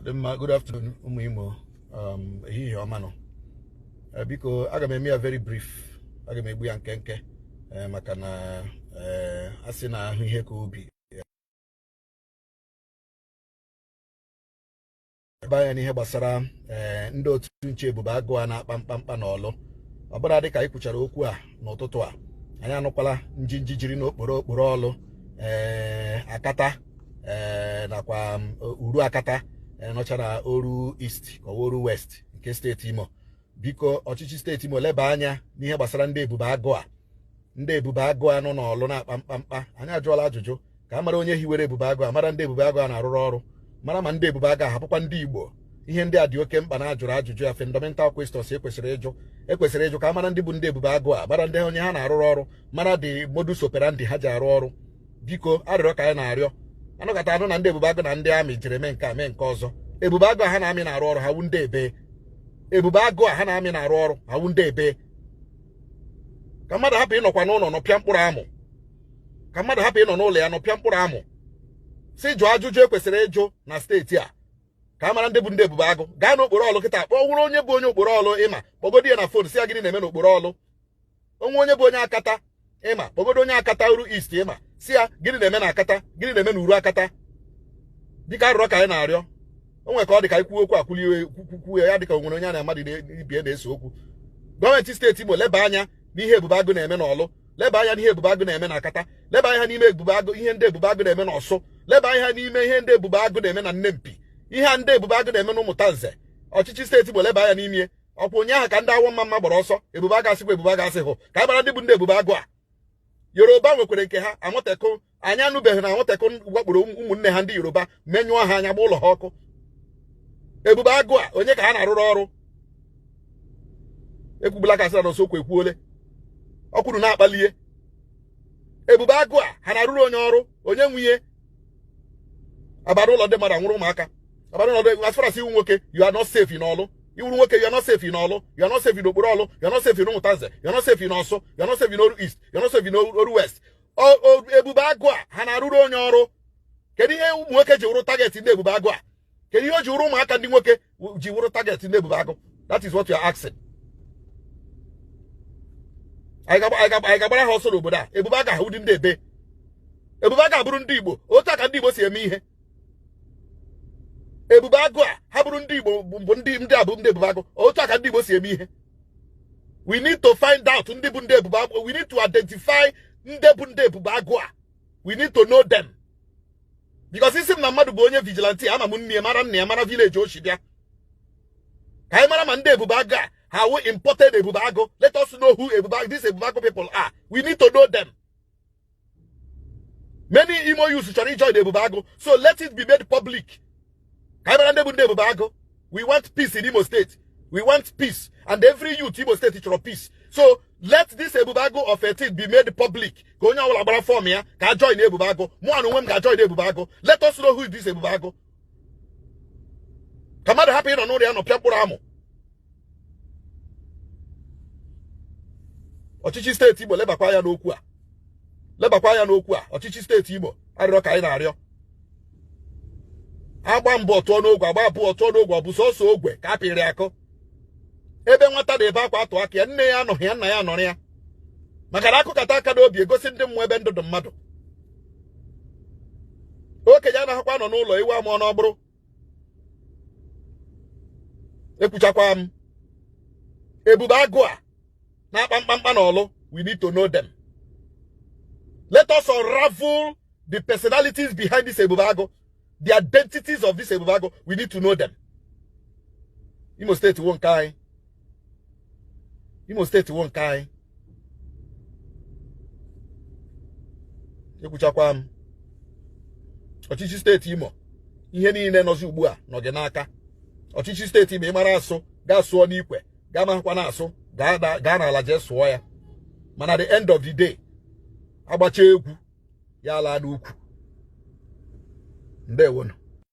dị mma good afternoon ụmụ Imo um, ehihie ọma nụ eh, biko aga m eme ya very brief aga m egbu ya nkenke eh, maka na eh, a sị na ahụ ihe ka obi ebe anya n'ihe gbasara ndị otu nche ebube agụ a na-akpa mkpamkpa na ọlụ ọ bụrụ dị ka anyị kwuchara okwu a n'ụtụtụ a anyị anụkwala njinji jiri n'okporo okporo ọlụ ee akata eh, nakwa um, uru akata eh, nọcha na oru east ka ọ wụ oru west nke steeti imo biko ọchịchị steeti imo leba anya n'ihe gbasara ndị ebube agụ a ndị ebube agụ a nọ n'ọlụ na-akpa mkpamkpa anyị ajụọla ajụjụ ka a mara onye hiwere ebube agụ a mara ndị ebube agụ a na-arụrụ ọrụ mara ma ndị ebube agụ a ha bụkwa ndị igbo ihe ndị a dị oke mkpa na-ajụrụ ajụjụ ya fundamental questions ekwesịrị ịjụ ekwesịrị ịjụ ka a mara ndị bụ ndị ebube agụ a mara ndị onye ha na-arụrụ ọrụ mara the modus operandi ha ji arụ ọrụ biko arịrịọ ka anyị na-arịọ a nụkata a nụ na ndị ebube agụ na ndị army jere mee nke a mee nke ọzọ ebube agụ a ha na army na-arụ ọrụ ha wu ndị ebee ebube agụ a ha na army na-arụ ọrụ ha wu ndị ebee ka mmadụ hapụ ịnọkwa n'ụlọ nọpịa mkpụrụ amụ ka mmadụ hapụ ịnọ n'ụlọ ya nọpịa mkpụrụ amụ si jụọ ajụjụ ekwesịrị ịjụ na steeti a ka a mara ndị bụ ndị ebube agụ gaa n'okporo ọlụ kịta kpọọ wụrụ onye bụ onye okporo ọlụ ị ma kpọgodi ya na phone sị ya gịnị na-eme n'okporo ọlụ o nwee onye bụ onye akata ị ma kpọgodi onye akata oru east ị ma sị ya gịnị na-eme na akata gịnị na-eme na uru akata biko arịrịọ ka anyị na-arịọ o nwere ka ọ dị ka ị kwuo okwu a kwulie kwukwuo ya dịka o nwere onye ya na mmadụ ibe ya na-ese okwu gọọmenti steeti Imo leba anya n'ihe ebube agụ na-eme n'ọlụ leba anya n'ihe ebube agụ na-eme na akata leba anya n'ime ebube agụ ihe ndị ebube agụ na-eme n'ọsụ leba anya n'ime ihe ndị ebube agụ na-eme na nempi ihe a ndị ebube agụ na-eme na ụmụtanze ọchịchị steeti Imo leba anya n'ime ọ kwa ụnyaahụ ka ndị awọ ọmamma gbara ọsọ ebube agụ a sịkwa ebube agụ a sị hụ ka anyị mara ndị bụ ndị ebube agụ a yoruba nwekwara nke ha amotekun anyị anụbeghị na amotekun wakporo ụmụnne ha ndị yoruba menyụọ ha anya gba ụlọ ha ọkụ ebube agụ a onye ka ha na-arụrụ ọrụ ekwubula ka asịra na osokwu ekwuole ọkwuru na-akpalie ebube agụ a ha na-arụrụ onye ọrụ onye nwunye a bara ụlọ ndị mmadụ a nwụrụ ụmụaka a bara ụlọ ndị as far as ị wụrụ nwoke you are not safe n'ọlụ ị wụrụ nwoke you are not safe n'ọlụ you are not safe n'okporo ọlụ you are not safe n'ụmụtanze you are not safe n'ọsụ you are not safe n'oru east you are not safe n'oru west ebube agụ a ha na-arụrụ onye ọrụ kedu ihe ụmụ nwoke ji wụrụ target ndị ebube agụ a kedu ihe o ji wụrụ ụmụaka ndị nwoke ji wụrụ target ndị ebube agụ that is what you are asking anyị ga-agbara ha ọsọ n'obodo a ebube agụ a ha wụ ndị ebee ebube agụ a bụrụ ndị igbo otu a ka ndị igbo si eme ihe ebube agụ a ha bụrụ ndị igbo bụ ndị ndị a bụ ndị ebube agụ otu a ka ndị igbo si eme ihe we need to find out ndị bụ ndị ebube agụ we need to identify ndị bụ ndị ebube agụ a we need to know them because ị sị m na mmadụ bụ onye vigilante ama m nne ya mara nna ya mara village o shi bịa ka anyị mara ma ndị ebube agụ a ha wụ imported ebube agụ let us know who this ebube agụ people are we need to know them many imo youths chọrọ ijoin ebube agụ so let it be made public ka anyị mara ndị bụ ndị ebube agụ we want peace in Imo State we want peace and every youth Imo State chọrọ peace so let this ebube agụ of a thing be made public ka onye ọbụla gbara form ya ka a join ebube agụ mụ na onwe m ga-ajoin ebube agụ let us know who is this ebube agụ ka mmadụ hapụ ịnọ n'ụlọ ya nọpịa mkpụrụ amụ ọchịchị steeti Imo lebakwa anya n'okwu a lebakwa anya n'okwu a ọchịchị steeti Imo arịrịọ ka anyị na-arịọ a gbaa mbụ ọ tụọ n'ogwe a gbaa abụọ ọ tụọ n'ogwe ọ bụ sọsọ ogwe ka a pịịrị akụ ebe nwata na-ebe akwa atụ aka ya nne ya anọghị ya nna ya anọrọ ya maka na a kụkata aka n'obi e gosi ndị mmụọ ebe ndụ dị mmadụ okenye anaghịkwa anọ n'ụlọ ewu amụọ n'ọgbụrụ ekwuchakwa m ebube agụ a na-akpa mkpamkpa n'Ọlụ we need to know them let us unravel the personalities behind this ebube agụ the identities of this ebube agụ we need to know them Imo steeti wụ nke anyị Imo steeti wụ nke anyị ekwuchakwa m ọchịchị steeti Imo ihe niile nọzi ugbu a nọ gị n'aka ọchịchị steeti Imo ị mara asụ gaa sụọ n'ikwe gị amahụkwanụ asụ gaa n'ala jee sụọ ya mana the end of the day a gbachaa egwu ya alaa n'ukwu ndewonu